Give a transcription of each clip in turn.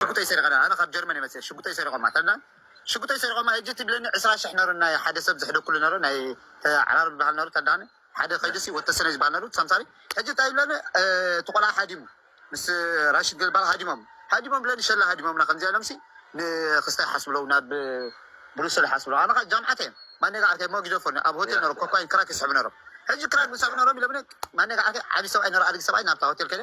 ሽጉጠይ ሰሪቀ ኣነ ካብ ጀርመን እየ መፅኤ ሽጉጠይ ሰሪቆማ ተላ ሽጉጠይ ሰሪቆማ ሄጂ ትብለኒ ዕስራ ሽሕ ነሩ ናይ ሓደ ሰብ ዝሕደኩሉ ነሩ ናይ ዓራር ዝበሃል ነሩ ተላ ሓደ ከይዱሲ ወተሰነ ዝበሃል ነሩ ሰምሳሪ ሕጂ እንታይ ይብለኒ እቲ ቆልዓ ሃዲሙ ምስ ራሽድ ገልባል ሃዲሞም ሃዲሞም ብለኒ ሸላ ሃዲሞምና ከምዚኣ ኢሎምሲ ንክስታ ይሓስብለው ናብ ብሩሰል ይሓስብለው ኣነ ከዓ ጃምዓት እየ ማነጋ ዓርከይ ሞ ጊደፎኒ ኣብ ሆቴል ነሩ ኮኳይን ክራክ ይስሕቡ ነሮም ሕጂ ክራክ ዝስሕቡ ነሮም ኢሎምኒ ማነጋ ዓርከይ ዓብዪ ሰብኣይ ነሩ ኣድጊ ሰብኣይ ናብታ ሆቴል ከደ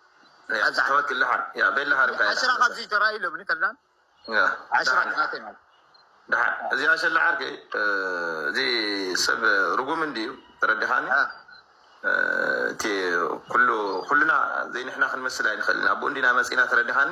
ሐዚ ኣሕዋት ለሓር ያ በል ለሓር እካ ዓሽራ ካብዚ ተራእዩ ለብኒ ከላ ዓሽራ ናተይ ማለት ደሓን እዚ ኣሸለ ዓርከይ እዚ ሰብ ርጉም እንድዩ ተረዲኻኒ እቲ ኩሉ ኩሉና ዘይንሕና ክንመስል ኣይንኽእልን ኣብኡ እንዲና መፂና ተረዲኻኒ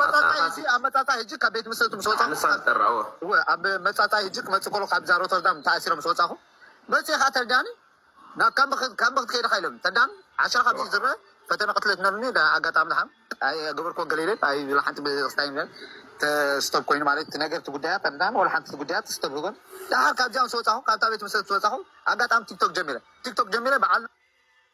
መጻጻይ ሕጂ ኣብ መጻጻይ ሕጂ ካብ ቤት ምስረቱ ምስ ወጻኹ ንሳ ትጠራዎ እወ ኣብ መጻጻይ ሕጂ ክመጽእ ከሎ ካብዛ ሮተርዳም ተኣሲረ ምስ ወጻኹ መጺኤ ከኣ ተርዳኒ ናብ ካምቢ ካምቢ ክትከይድ ኢኻ ኢሎምኒ ተርዳኒ ዓሻ ካብዚ ዝርእ ፈተነ ቅትለት ነሩኒ ዳ ኣጋጣሚ ድሓን ኣይገበርኩዎን ገለ ኢለ ኣይ ወላ ሓንቲ ቤተክርስቲያን ኢለ ተስቶብ ኮይኑ ማለት እቲ ነገር እቲ ጉዳያት ተርዳኒ ወላ ሓንቲ ጉዳያት ተስቶብ ህበን ድሓር ካብዚኣ ምስ ወጻኹ ካብታ ቤት ምስረት ምስ ወጻኹ ኣጋጣሚ ቲክቶክ ጀሚረ ቲክቶክ ጀሚረ በዓል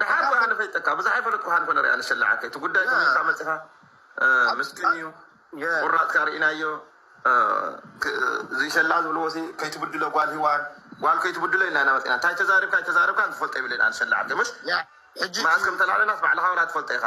ደሓር እኮ ኣነ ፈልጠካ ብዙሕ ኣይፈለጥኩኻን እኮ ንሪኣ ንስላዕ እቲ ጉዳይ ተመልካ መፂኻ ምስኪን እዩ ቁራፅካ ርኢናዮ ዝይሰላዕ ዝብልዎ ሲ ከይትብድሎ ጓል ሂዋን ጓል ከይትብድሎ ኢልና ኢና መፂና እንታይ ተዛሪብካ ኣይተዛረብካን ዝፈልጦ የብለይን ኣነ ሰላዕ ምስ መኣስ ከም ተላዕለናስ ባዕልኻ ዋላ ትፈልጦ ኢኻ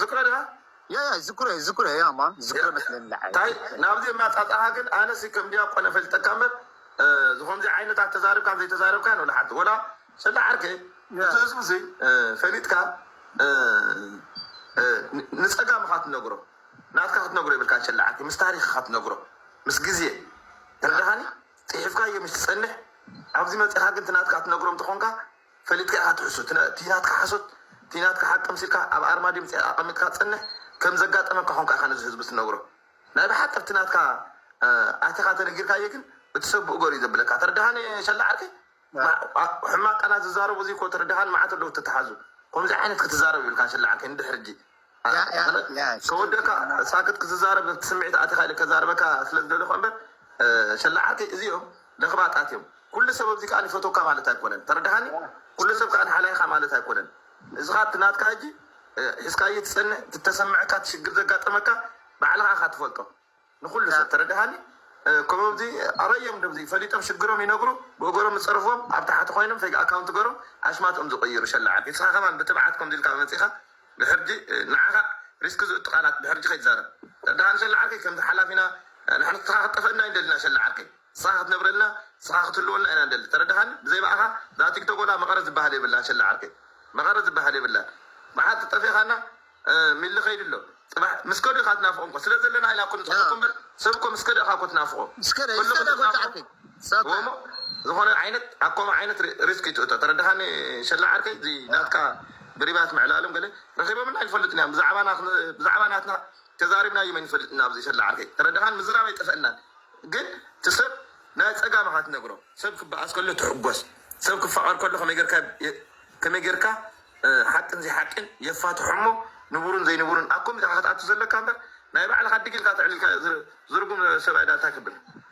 ዝክረ ድካ ያያ ዝክረ ዝክረ ያማ ዝክረ መስለኒ ልዓል ታይ ናብዚ የማጻጻካ ግን ኣነሲ ከም ድያቆን ኣፈልጠካ እምበር ዝኮምዚ ዓይነታት ተዛርብካን ዘይተዛረብካን ወላ ሓንቲ ወላ ሰለ ዓርከይ እቲ ህዝቢ እዚ ፈሊጥካ ንጸጋም ኢካ ትነግሮ ናትካ ክትነግሮ የብልካ ሸለ ዓርከይ ምስ ታሪክ ኢካ ትነግሮ ምስ ግዜ ተረዳካኒ ጽሒፍካዮ ምስ ትጸንሕ ኣብዚ መጺካ ግን ትናትካ ትነግሮም ተኮንካ ፈሊጥካ ኢኻ ትሕሱ እቲ ናትካ ሓሶት እቲ ናትካ ሓቂ ምሲልካ ኣብ ኣርማድዮ ምጽ ኣቀሚጥካ ጽንሕ ከም ዘጋጠመካ ኮንካ ኢኻ ነዚ ህዝቢ ትነግሮ ናይ ብሓቂ ኣብቲ ናትካ ኣቲኻ ተነጊርካዬ ግን እቲ ሰብ ብኡ ገሩ እዩ ዘብለካ ተርዳሃኒ ሸላ ዓርከይ ሕማቅ ቃላት ዝዛረቡ እዚ እኮ ተርዳሃን ማዓት ኣለዉ ተታሓዙ ኮምዚ ዓይነት ክትዛረብ ይብልካን ሸላ ዓርከይ ንድሕሪ እጂ ተወደካ ሳክት ክትዛረብ ኣብቲ ስምዒት ኣቲካ ኢለ ከዛርበካ ስለ ዝደለኩ ኣምበር ሸላዓተይ እዚኦም ለክባጣት እዮም ኩሉ ሰብ ኣብዚ ከኣ ይፈትወካ ማለት ኣይኮነን ተረዳሃኒ ኩሉ ሰብ ከኣ ሓላይ ኢካ ማለት ኣይኮነን እዚካ እቲ ናትካ ሕጂ ሒዝካዬ ትጸንሕ እቲ ተሰመዐካ እቲ ሽግር ዘጋጠመካ ባዕልካ ኢካ ትፈልጦ ንኩሉ ሰብ ተረዳኣኒ ኮም ኣዚ ኣበዮም ደዚ ፈሊጦም ሽግሮም ይነግሩ ብእጎሮም ዝጸርፍዎም ኣብ ታሓቲ ኮይኖም ፌግ ኣካውንት ገሮም ኣሽማቶም ዝቅይሩ ሸላዓት ንስካ ከማን ብትብዓት ኮምዚ ኢልካ መጺካ ብሕርጂ ናዓካ ሪስክ ዝእቱ ቃላት ብሕርጂ ከይትዛረብ ተረዳኣኒ ሸላዓርከይ ከምዚ ሓላፊና ናሕና ንስካ ክትጠፈኣና ኣይንደልን ኢና ሸላዓርከይ። ንስኻ ክትነብረልና ንስኻ ክትህልወልና ኢና ንደሊ ተረዳኻኒ ብዘይ ብኣኻ እዛ ቲክቶክ ወላ መቐረት ዝብሃል የብላን ሸላ ዓርከይ መቐረት ዝብሃል የብላን መዓልቲ ጠፊእኻና ሚሊ ከይዱ ኣሎ ፅባሕ ምስ ከዱ ኢኻ ትናፍቖም እኮ ስለ ዘለና ኢና እኮ ንፅሕፈኩም እምበር ሰብ እኮ ምስ ከደ ኢኻ እኮ ትናፍቖ ኩሉ ክትናፍቖ ወሞ ዝኾነ ዓይነት ኣኮመ ዓይነት ሪስክ ይትእቶ ተረዳኻኒ ሸላ ዓርከይ እዚ ናትካ ብሪባት ምዕላሎም ገለ ረኺቦምና ኣይፈልጡን እዮም ብዛዕባና ብዛዕባ ናትና ተዛሪብናዩ መን ይፈልጥ እና ኣብዙይ ሰላ ዓርከይ ተረዳኻን ምዝራብ ኣይጠፈእናን ግን እቲ ሰብ ናይ ፀጋምኻ ትነግሮ ሰብ ክበኣስ ከሎ ትሕጎስ ሰብ ክፋቐር ከሎ ከመይ ጌርካ ከመይ ጌርካ ሓቅን ዘይሓቅን የፋትሖሞ ንቡሩን ዘይንቡሩን ኣብ ኮሚታኻ ክትኣቱ ዘለካ እምበር ናይ ባዕልኻ ድግ ኢልካ ተዕሊልካ ዝርጉም ሰብኣይ ዳንታ ክብል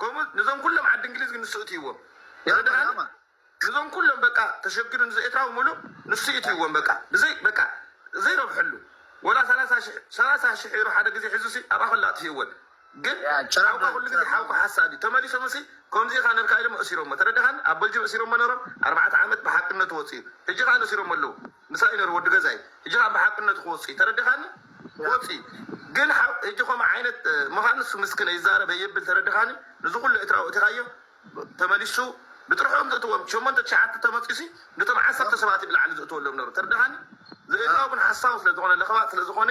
ከምኡ ንዞም ኩሎም ዓዲ እንግሊዝ ግን ንሱ እትይዎም ያማ ንዞም ኩሎም በቃ ተሸግዱ ንዘ ኤትራዊ ሙሉእ ንሱ እትይዎም በቃ ብዘይ በቃ ዘይረብሐሉ ወላ ሰላሳ ሽሕ ሰላሳ ሽሕ ዩሮ ሓደ ግዜ ሒዙ ሲ ኣብኣ ከላ ኣጥፊእወን ግን ሓውካ ኩሉ ግዜ ሓውካ ሓሳቢ ተመሊሶም ሲ ከምዚ ኢኻ ነርካ ኢሎም እእሲሮሞ ተረዳኻኒ ኣብ በልጅም እእሲሮሞ ነሮም ኣርባዕተ ዓመት ብሓቅነቱ ወፂኡ ሕጂ ኸኣ ነእሲሮሞ ኣለዉ ምሳይ ነሩ ወዲ ገዛይ ህጂ ካኣ ብሓቅነቱ ክወጽእዩ ተረዲካኒ ክወጽእዩ ግን ህጂ ከምኡ ዓይነት ምካን ንሱ ምስ ክነ ይዛረብ ኣየብል ተረዲካኒ ንዚ ኩሉ ኤትራዊ ኣእቲካዮ ተመሊሱ ብጥርሖም ዘእትዎም ሸሞንተ ትሽዓተ ተመጽዩሲ ንቶም ዓሰርተ ሰባት እዩ ብላዕሊ ዘእትወሎም ነሩ ተርዲካኒ ዘኤትራዊ ግን ሓሳዊ ስለ ዝኮነ ለክባጥ ስለ ዝኮነ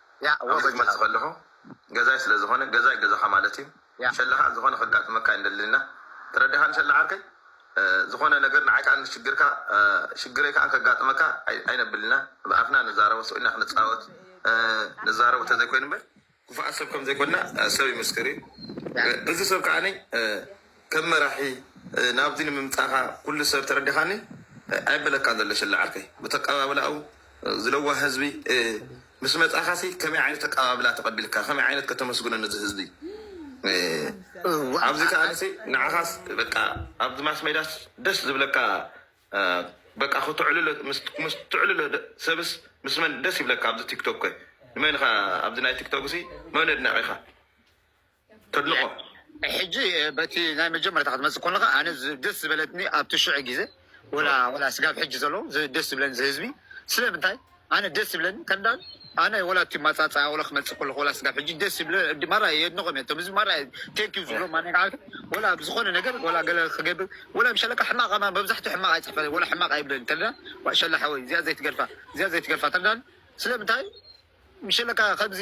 ኣብ ዘግመጽ ከለኹ ገዛይ ስለ ዝኾነ ገዛይ ገዛኻ ማለት እዩ ሸለኻ ዝኾነ ከጋጥመካ ኣይንደልንና ተረዲኻኒ ሸለ ዓርከይ ዝኾነ ነገር ንዓይ ከኣ ንሽግርካ ሽግረይ ከኣ ከጋጥመካ ኣይነብልና ብኣፍና ንዛረቦ ስቅ ኢልና ክንጻወት ንዛረቦ ተዘይኮይኑ እምበር ክፉኣት ሰብ ከምዘይኮንና ሰብ ይምስክር እዩ እዚ ሰብ ከኣ ከም መራሒ ናብዚ ንምምጻኻ ኩሉ ሰብ ተረዲኻኒ ኣይበለካን ዘሎ ሽላ ዓርከይ ብተቀባብላኡ ዝለዋህ ህዝቢ ምስ መጻኻሲ ከመይ ዓይነት ተቀባብላ ተቀቢልካ ከመይ ዓይነት ከተመስግኖ ነዚ ህዝቢ ኣብዚ ከኣንሲ ንዓኻስ በቃ ኣብዚ ማስሜዳስ ደስ ዝብለካ በቃ ክትዕልሎ ምስ ትዕልሎ ሰብስ ምስ መን ደስ ይብለካ ኣብዚ ቲክቶክ ከ ንመን ኢኻ ኣብዚ ናይ ቲክቶክሲ መን ኣድናቂኻ ተድንቆ ሕጂ በቲ ናይ መጀመርታ ክትመጽእ ኮለካ ኣነ ደስ ዝበለትኒ ኣብቲ ሽዕ ግዜ ወላ ወላ ስጋብ ሕጂ ዘሎ ደስ ዝብለኒ ዝህዝቢ ስለምንታይ ኣነ ደስ ዝብለኒ ከንዳን ኣነ ወላ እቲ ማጻጻያ ወላ ክመጽእ ኮለኩ ወላ ስጋብ ሕጂ ደስ ዝብለ ማራ የድንቆም እየ እቶም ህዝቢ ማራ ቴንኪው ዝብሎም ኣነ ከዓልቲ ወላ ብዝኮነ ነገር ወላ ገለ ክገብር ወላ ምሸለካ ሕማቅ ኣማ መብዛሕትኡ ሕማቅ ኣይጽሕፈ ወላ ሕማቅ ኣይብለኒ ተዳ ሸላ ሓወይ እዚኣ ዘይትገድፋ እዚኣ ዘይትገድፋ ተዳን ስለምንታይ ምሸለካ ከምዚ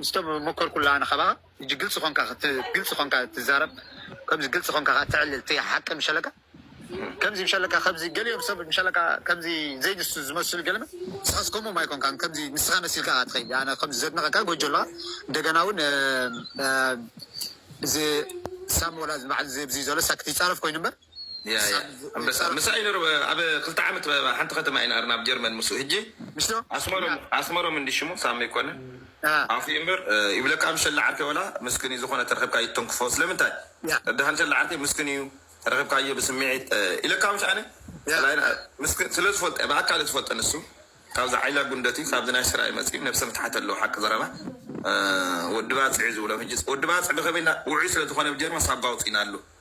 ምስቶም ሞከርኩላ ኣነ ካባካ ህጂ ግልጺ ኮንካ ግልጺ ኮንካ ትዛረብ ከምዚ ግልጺ ኮንካ ካኣ ተዕልል እቲ ሓቂ ምሸለካ ከምዚ ምሸለካ ከምዚ ገሊኦም ሰብ ምሸለካ ከምዚ ዘይንሱ ዝመስሉ ገለመ ንስካስ ኮሞም ኣይኮንካን ከምዚ ንስካ መሲልካ ካኣ ትከይድ ኣነ ከምዚ ዘድንቀካ ጎጆ ኣለካ እንደገና ውን እዚ ሳሞራ ባዓል እዚ ኣብዚ ዘሎ ሳክት ይጻረፍ ኮይኑ እምበር ኣንበሳ ምሳይ ነሩ ኣብ ክልተ ዓመት ሓንቲ ከተማ ኢና ናብ ጀርመን ምስ ህጂ ኣስመሮም እንዲ ሽሙ ሳሚ ኮነ ኣፍ ምበር ይብለካ ኣብ ሸላ ዓርከ ወላ ምስክን እዩ ዝኾነ ተረክብካ ይተንክፎ ስለምንታይ ደሃን ሸላ ዓርከ ምስክን እዩ ተረክብካዮ ብስምዒት ኢለካ ምሽ ኣነ ምስክን ስለ ዝፈልጠ ብኣካል ዝፈልጠ ንሱ ካብዚ ዓይላ ጉንደት እዩ ካብዚ ናይ ሰራይ መፅዩ ነብሰ ምትሓት ኣለዎ ሓቂ ዘረባ ወዲ ባፅዕ ዝብሎም ህጂ ወዲ ባፅዕ ብከመይ ውዑይ ስለ ዝኾነ ብጀርመን ሳባ ውፅኢና ኣሎ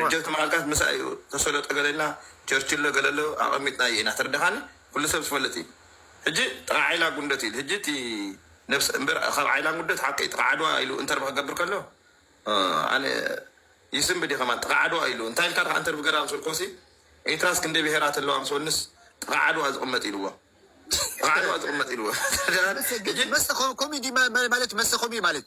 ረጀብቲ መዓልታት ምሳይ እዩ ተሰሎ ጠገለልና ቸርችሎ ገለሎ ኣቀሚጥና እዩ ኢና ተርዳካኒ ኩሉ ሰብ ዝፈልጥ እዩ ሕጂ ጥቃ ዓይላ ጉንደት ኢሉ ሕጂ እቲ ነብሰ እንበር ካብ ዓይላ ጉንደት ሓቀይ ጥቃ ዓድዋ ኢሉ እንተርቭ ክገብር ከሎ ኣነ ይስንብድ እየ ከማን ጥቃ ዓድዋ ኢሉ እንታይ ኢልካ ድካ እንተርቭ ገራ ምስ በልክዎሲ ኤርትራስ ክንደይ ብሄራት ኣለዋ ምስ በልንስ ጥቃ ዓድዋ ዝቅመጥ ኢልዎ ጥቃ ዓድዋ ዝቅመጥ ኢልዎ ተርዳኣኒ ሕጂ መሰ ኮሚዲ ማለት መሰ ኮሚዲ ማለት።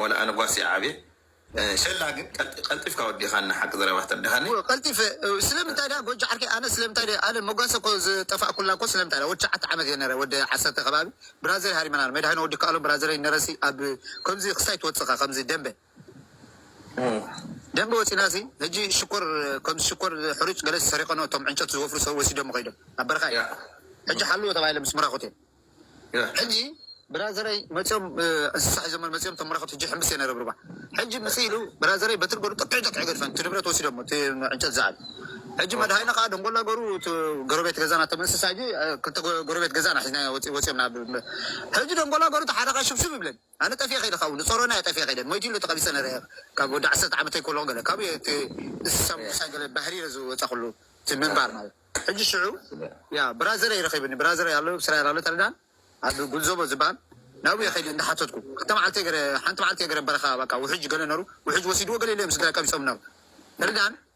ዋላ ኣነ ጓስ እየ ዓብየ ሸላ ግን ቀልጢፍካ ወዲካና ሓቂ ዘረባ ተርድካኒ። ቀልጢፈ ስለምንታይ ድኣ ጎጆ ዓርከይ ኣነ ስለምንታይ ድየ ኣነ መጓሰ እኮ ዝጠፋእኩላ እኮ ስለምንታይ ድኣ ወዲ ትሽዓተ ዓመት እየ ነረ ወዲ ዓሰርተ ከባቢ ብራዘር ሃሪመናል መድሃኔ ወዲከኣሎም ብራዘረይ ነረሲ ኣብ ከምዚ ክስታይ ትወጽኻ ከምዚ ደምበ ደምበ ወጺናሲ ሕጂ ሽኮር ከምዚ ሽኮር ሕሩጭ ገለሲ ሰሪቀኖ እቶም ዕንጨት ዝወፍሩ ሰብ ወሲዶሞ ከይዶም ኣብ በረኻ እየ ሕጂ ሓልዎ ተባሂለ ምስ ምራኩተይ ሕጂ ብራዘረይ መጽዮም እንስሳ ሒዞም መጽዮም እቶም መራኽብ ሕጂ ሕምብስ እየን ይረብርባ ሕጂ ምጽ ኢሉ ብራዘረይ በትሪ ገሩ ጥቅዒ ጥቅዒ ገድፈን እቲ ንብረት ወሲዶሞ እቲ ዕንጨት ዝዓል ሕጂ መድሃይና ከኣ ደንጎላ ገሩ እቲ ጎረቤት ገዛና እቶም እንስሳ ሕጂ ክልተ ጎረቤት ገዛና ሒዝናዮ ወጽ ወጽዮም ናብ ሕጂ ደንጎላ ገሩ እቲ ሓደኻ ሽብሽብ ይብለን ኣነ ጠፊኤ ከይደ ካብኡ ንጾሮና እየ ጠፊኤ ከይደ ሞይቱ ኢሉ ተቀቢጸ ነረ እየ ካብ ወዲ ዓሰርተ ዓመተይ ኮለኩ ገለ ካብኡ እየ እቲ እንስሳ ምውሳይ ገለ ባህሪ እየ ዝወጻኩሉ እቲ ምንባር ማለት ሕጂ ሽዑ ያ ብራዘረይ ረኪብኒ ብራዘረይ ኣሎ ኣብ እስራኤል ኣሎ ተረዳኣኒ ኣብ ጉልዞቦ ዝብሃል ናብኡ እየ ከይደ እንዳ ሓተትኩ ክልተ መዓልተይ ገረ ሓንቲ መዓልቲ እየ ገረ በረካ በቃ ውሕጅ ገለ ነሩ ውሕጅ ወሲድዎ ገለ ኢለ እዮም ስድራይ ቀቢጾም ነሩ ተረዳኣኒ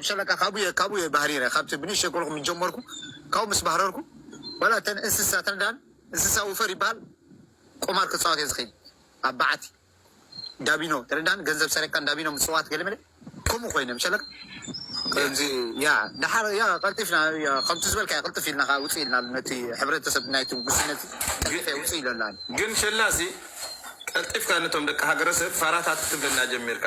ብሸለካ ካብኡ እየ ካብኡ እየ ባህሪረ ካብቲ ብንእሽተይ ኮለኹ ምስ ጀመርኩ ካብኡ ምስ ባህረርኩ ዋላ እተን እንስሳ እተን ዳን እንስሳ ውፈር ይበሃል ቁማር ክጻወት እየ ዝኽእል ኣብ በዓቲ ዳቢኖ ተረዳን ገንዘብ ሰሪቕካ ዳቢኖ ምጽዋት ገለመለ ከምኡ ኮይነ ብሸለካ ከምዚ ያ ደሓር ያ ቀልጢፍና ያ ከምቲ ዝበልካዮ ቅልጥፍ ኢልና ከኣ ውጽእ ኢልና ነቲ ሕብረተሰብ ናይቲ ጉስነት ቀልጢፈ እየ ውጽእ ኢለላ ግን ሸላሲ ቀልጢፍካ ነቶም ደቂ ሃገረሰብ ፋራታት ክትብለና ጀሚርካ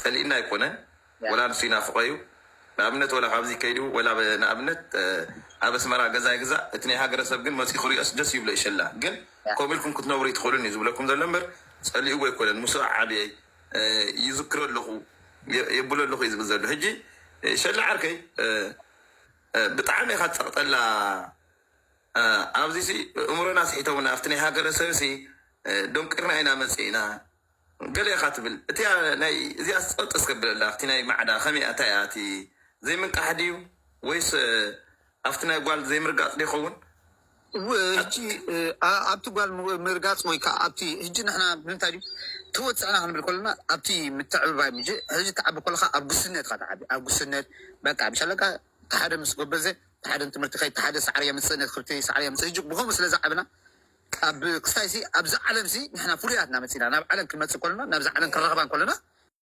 ጸሊእና ኣይኮነን ወላ ንሱ ይናፍቆ እዩ ንኣብነት ወላ ካብዚ ከይዱ ወላ ንኣብነት ኣብ ኣስመራ ገዛ ይግዛእ እቲ ናይ ሃገረሰብ ግን መጽኡ ክሪኦስ ደስ ይብሎ ኢሸላ ግን ከምኡ ኢልኩም ክትነብሩ ኣይትክእሉን እዩ ዝብለኩም ዘሎ እምበር ጸሊእዎ ኣይኮነን ምሱኡ ዓብየ ይዝክሮ ኣለኩ የብሎ ኣለኩ እዩ ዝብል ዘሎ ሕጂ ሸላ ዓርከይ ብጣዕሚ ኢካ ትጸቅጠላ ኣብዚሲ እእምሮና ኣስሒቶምና ኣብቲ ናይ ሃገረሰብሲ ዶንቂርና ኢና መጺእና ገለ ኢኻ ትብል እቲኣ ናይ እዚኣስ ጸጥ እስከ ብለላ ኣብቲ ናይ ማዕዳ ከመይ ኣታ እያ እቲ ዘይምንቃሕ ድዩ ወይስ ኣብቲ ናይ ጓል ዘይምርጋጽ ዶ ይኸውን። ህጂ ኣብቲ ጓል ምርጋጽ ወይ ከኣ ኣብቲ ህጂ ንሕና ብምንታይ ድዩ ተወጽዕና ክንብል ከሎና ኣብቲ ምትዕብባይ ምጂ ህጂ ትዓቢ ከለኻ ኣብ ጉስነት ኢኻ ትዓቢ ኣብ ጉስነት በቃ ምሽ ኣለቃ እቲ ሓደ ምስ ጎበዘ እቲ ሓደ ንትምህርቲ ከይድ እቲ ሓደ ሳዕሪ የምጽእ ነቲ ክብርቲ ሳዕሪ የምጽእ ህጂ ብኸምኡ ስለ ዝዓብና ኣብ ክስታይሲ ኣብዚ ዓለምሲ ንሕና ፍሉያት ኢና መጺና ናብ ዓለም ክንመጽእ ከሎና ናብዚ ዓለም ክንረኽባ ከሎና።